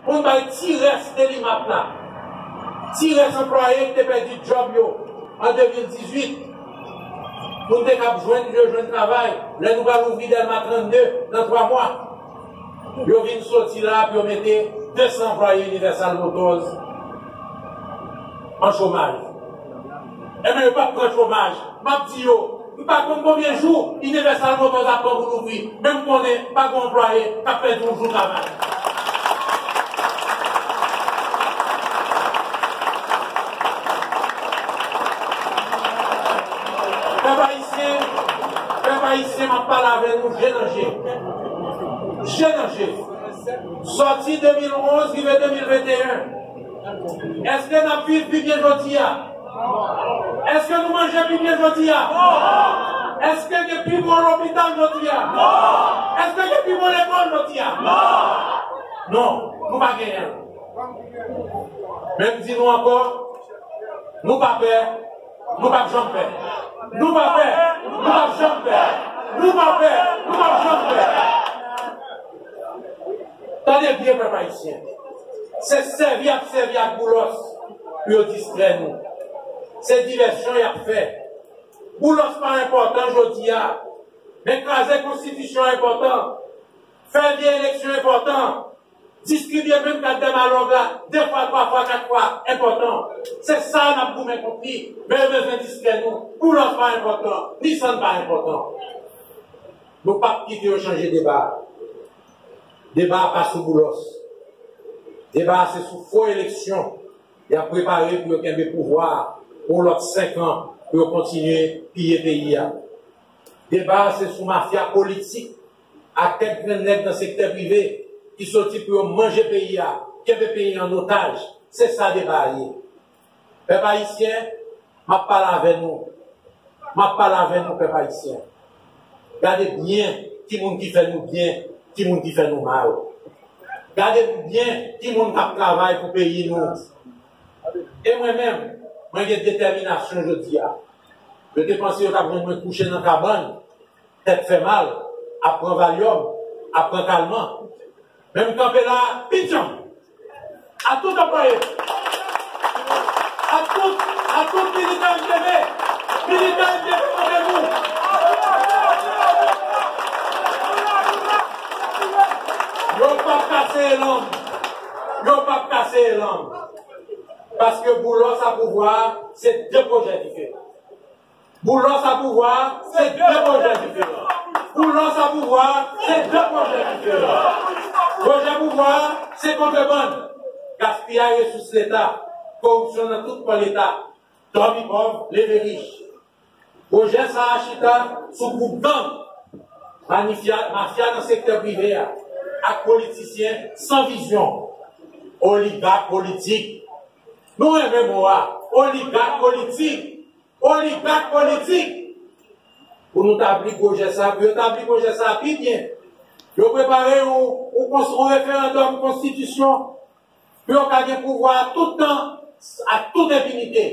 Pou n bay ti rès Delimat la, ti rès anplwaye ki te pèdi djòb yo an 2018, pou n te kab jwenn yo jwenn travay lè nou pral ouvri Dèlma 32 nan 3 mwa, yo vin soti la pou yo mete 200 anplwaye Universal Motors an chomaj. Enben yo pap pran chomaj. Map di yo, m pa konn konbyen jou Universal Motors ap pran pou louvri, men m konnen pa gen anplwaye kap pèdi yon jou travay. Pèp Ayisyen, pèp Ayisyen map pale avè nou je nan je. Je nan je. Sòti 2011 rive 2021. Eske nap viv pi byen jodia? Eske nou manje pi byen jodia? Eske gen pi bon lopital jodia? Eske gen pi bon lekòl jodia? Non, nou pa genyen l. Men m di nou ankò, nou pa pè, nou pap janm pè. Nou pa pè, nou pap janm pè. Nou pa pè, nou pap janm pè. Tande byen pèp ayisyen, se sèvi y ap sèvi ak Boulos pou yo distrè nou. Se divèsyon y ap fè. Boulos pa enpòtan jodi a, men kraze konstitisyon enpòtan, fè vye eleksyon enpòtan, distribye menm kat dè malonv la de fwa, twa fwa, kat fwa enpòtan. Se sa a n ap goumen kont li, men yo bezwen distrè nou. Boulos pa enpòtan, ni Sann pa enpòtan. Nou pap kite yo chanje deba a. Deba a pa sou Boulos. Deba a se sou fo eleksyon y ap prepare pou yo kenbe pouvwa a pou yon lòt 5 an pou yo kontinye piye peyi a. Deba a se sou mafya politik ak kèk grenn nèg nan sektè prive ki soti pou yo manje peyi a, kenbe peyi an otaj. Se sa deba a ye. Pèp Ayisyen, m ap pale avè nou. M ap pale avè nou, pèp Ayisyen. Gade byen ki moun ki fè nou byen, ki moun ki fè nou mal. Gade byen ki moun k ap travay pou peyi nou. E mwen menm, mwen gen detèminasyon jodi a. Yo te panse yo t ap jwenn mwen kouche nan kabann, tèt fè mal, ap pran valyòm, ap pran kalman. Men m kanpe la a pi djanm. A tout anplwaye. A tout, a tout militan MPD. Militan MPD kote nou? Yo pap ka seye lang. Yo pap ka seye lang. Paske Boulos a pouvwa a, se 2 pwojè ki fè. Boulos a pouvwa, se 2 pwojè diferan. Boulos a pouvwa, se 2 pwojè diferan. Pwojè pouvwa a, se kontrebann, gaspiyay resous leta, koripsyon nan tout pwen leta, dòmi pòv, leve rich. Pwojè sa a chita sou gwoup gang, manifya, mafya nan sektè prive a ak politisyen san vizyon, oligak politik. Nou renmen mo a, oligak politik. Oligak politik pou nou tabli pwojè sa, pou yo tabli pwojè sa pi byen. Yo prepare yon referandòm konstitisyon pou yo ka gen pouvwa a tout tan, a tout enfinite.